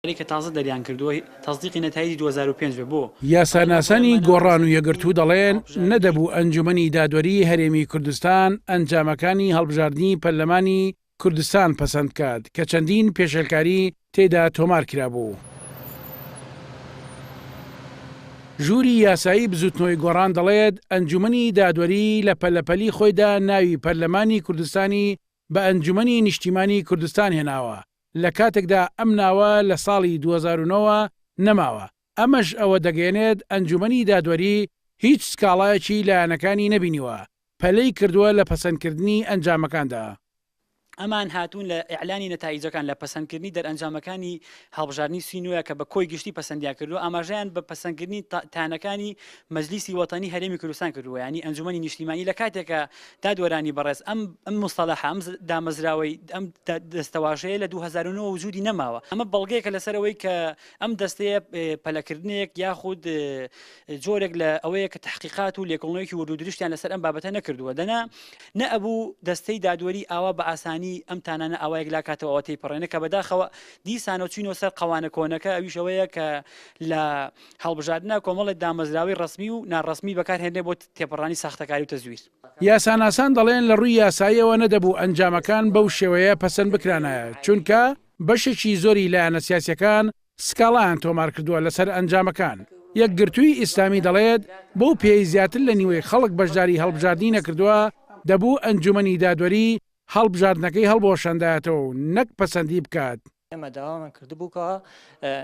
ی کە تازە دەریان کردووە تەسدیقی نەتایجی دوو هەزار و پێنج بێت بۆ. یاساناسانی گۆڕان و یەکگرتوو دەڵێن، نەدەبوو ئەنجومەنی دادوەریی هەرێمی کوردستان ئەنجامەکانی هەڵبژاردنی پەرلەمانی کوردستان پەسەند بکات کە چەندین پێشێلکاری تێدا تۆمار کرابوو. ژووری یاسایی بزووتنەوەی گۆڕان دەڵێت، ئەنجومەنی دادوەری لە پەلەپەلی خۆیدا ناوی پەرلەمانی کوردستانی بە ئەنجومەنی نیشتیمانی کوردستان هێناوە، لە کاتێکدا ئەم ناوە لە ساڵی دوو هەزار و نۆ وە نەماوە، ئەمەش ئەوە دەگەیەنێت ئەنجومەنی دادوەری هیچ سکاڵایەکی لایەنەکانی نەبینیوە پەلەی کردووە لە پەسەندکردنی ئەنجامەکاندا. ئەمان هاتوون لە ئیعلانی نەتایجەکان لە پەسەندکردنی دەرئەنجامەکانی هەڵبژاردنی سی نۆیە کە بە کۆی گشتی پەسەندیان کردووە، ئاماژەیان بە پەسەندکردنی تانەکانی مەجلیسی وەتەنی هەرێمی کوردستان کردووە یانی ئەنجومەنی نیشتیمانی لە کاتێکە دادوەرانی بەڕێز ئەم ئەم مستەلاح ئەم دامەزراوەی ئەم دەستەواژەیە لە 2009 وجودی نەماوە ئەمە بەڵگەیەکە لەسەرەوەی کە ئەم دەستەیە پەلەکردنێک یاخود جۆرێک لە ئەوەیە کە تحقیقات و لێکۆڵنەوەیەکی وردو درشتیان لەسەر ئەم بابەتە نەکردووە دەنا نە ئەبوو دەستەی دادوەری ئاوا بە ئاسانی ئەم تانانە ئاوایەک لا کاتەوە تێپەڕێنە کە بەداخەوە دیسانەوە چینەوە سەر قوانە کۆنەکە ئەویشەوەیە کە لە هەڵبژاردنە کۆمەڵێ دامەزراوەی ڕەسمی و ناڕەسمی بەکارهێنرێ بۆ تێپەڕانی ساختەکاری و تەزویر. یاساناسان دەڵێن لە ڕووی یاساییەوە نەدەبوو ئەنجامەکان بەو شێوەیە پەسەند بکرانایە، چونکە بەشێکی زۆری لایەنە سیاسییەکان سکاڵایان تۆمار کردووە لەسەر ئەنجامەکان. یەکگرتووی ئیسلامی دەڵێت، بەو پێیەی زیاتر لە نیوەی خەڵک بەشداری هەڵبژاردنی نەکردووە، دەبوو ئەنجوومەنی دادوەری هەڵبژاردنەکەی هەڵبوەشاندایەتەوە و نەک پەسەندی بکات. ئێمە داوامان کردبوو کە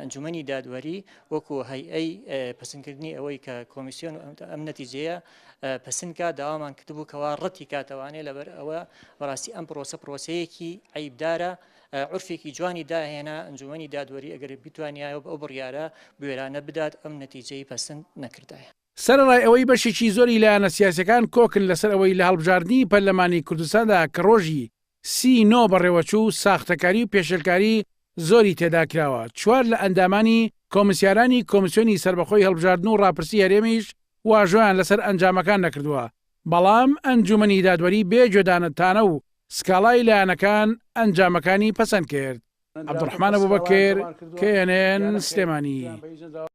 ئەنجومەنی دادوەری وەکو هەیئەی پسنکردنی ئەوەی کە کۆمیسیۆن ئەم نەتیجەیە پسنکە داوامان کردبوو کەوا ڕەتی کاتەوانێ لەبەر ئەوە بەڕاستی ئەم پرۆسە پرۆسەیەکی عیبدارە عرفێکی جوانی داهێنا ئەنجومەنی دادوەری ئەگەر بتوانیایە ئەو بڕیاە بێرانە بدات ئەم نەتیجەی پسند نەکردایە. سەرەڕای ئەوەی بەشێکی زۆری لایەنە سیاسیەکان کۆکن لەسەر ئەوەی لە هەڵبژاردنی پەرلەمانی کوردستاندا کە ڕۆژی سی نۆ بەڕێوەچوو ساختەکاری و پێشێلکاری زۆری تێدا کراوە، چوار لە ئەندامانی کۆمسیارانی کۆمسیۆنی سەربەخۆی هەڵبژاردن و ڕاپرسی هەرێمیش واژۆیان لەسەر ئەنجامەکان نەکردووە، بەڵام ئەنجومەنی دادوەری بێ گوێدانە تانە و سکاڵای لایەنەکان ئەنجامەکانی پەسەند کرد. عەبدولڕەحمان ئەبوبەکر، KNN، سلێمانی.